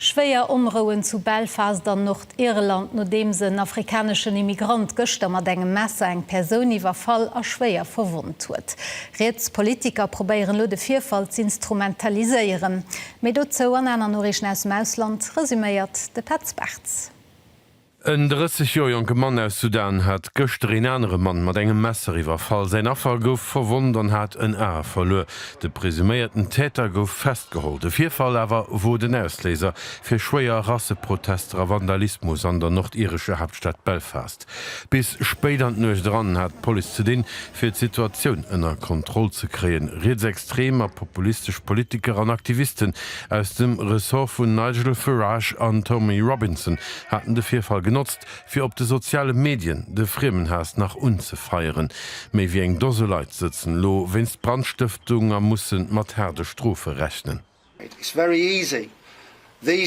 Schwéier Onrouen zu Belfast an Nordirland, nodeems en afrikaneschen Immigrant gëschter mat engem Messer eng Persoun iwwerfall a schwéier verwonnt huet. Riets Politiker probéieren elo de Virfall z'instrumentaliséieren. Méi dozou an aner Noriichten aus dem Ausland, resuméiert de Petz Bartz. En 30 Joer jonke Mann aus Sudan hat gëschter een anere Mann mat engem Messer iwwerfall. Säin Affer gouf verwonnt an hat en A verluer. De presuméierten Täter gouf festgeholl. De Virfall awer wor den Ausléiser fir schwéier Rasseprotester a Vandalismus an der nordirescher Haaptstad Belfast. Bis spéit an d'Nuecht eran hat d'Police ze dinn, fir d'Situatioun ënner Kontroll ze kréien. Rietsextrem a populistesch Politiker an Aktivisten aus dem Ressort vun Nigel Farage an Tommy Robinson haten de Virfall genotzt, fir op de soziale Medien de Friemenhaass nach unzefeieren. Méi wéi eng Dose Leit sëtzen elo wéinst Brandstëftung a musse mat haarde Strofe rechnen. Et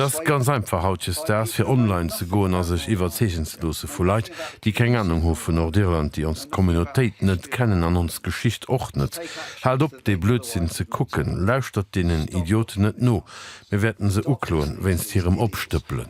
ass ganz einfach hautjesdaags, fir online ze goen a sech iwwerzeegen ze loosse vu Leit, déi keng Anung hu vu Nordirland, déi ons Communautéit net kennen an ons Geschicht och net. Haalt op, dee Blödsinn ze kucken. Lauschtert deenen Idioten net no. Mir wäerten se ukloen wéinst hirem Opstëppelen.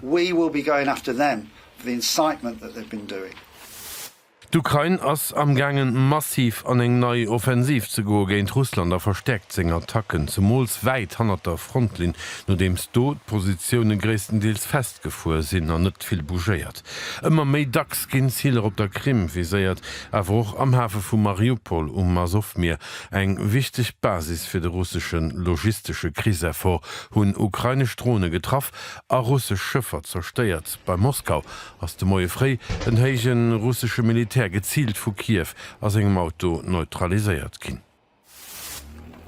D'Ukrain ass amgaangen, massiv an eng nei Offensiv ze goe géint Russland a verstäerkt seng Attacken, zemools wäit hannert der Frontlinn, nodeems do d'Positioune gréisstendeels Jagd gefuer sinn an net vill bougéiert. Ëmmer méi dacks ginn Ziler op der Krim viséiert, awer och am Hafe vu Mariupol um Asowmier, eng wichteg Basis fir de russesche logistesche Kriseffort, hunn ukrainesch Drone getraff a russesch Schëffer zerstéiert. Bei Moskau ass de Moie fréi en héije russesche Militär geziilt vu Kiew a sengem Auto neutraliséiert ginn.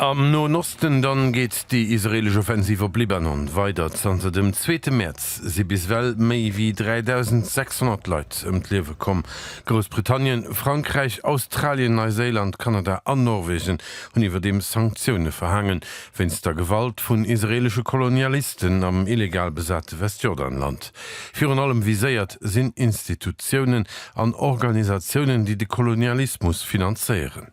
Am Noen Osten dann geet déi israeelesch Offensiv op Libanon weider. Zanter dem zweete Mäerz si bis ewell méi wéi 3.600 Leit ëm d'Liewe komm. Groussbritannien, Frankräich, Australien, Neiséiland, Kanada an Norwegen hunn iwwerdeems Sanktioune verhaangen, wéinst der Gewalt vun israeelesche Kolonialisten am illegal besate Westjordanland. Virun allem viséiert sinn Institutiounen an Organisatiounen, déi de Kolonialismus finanzéieren.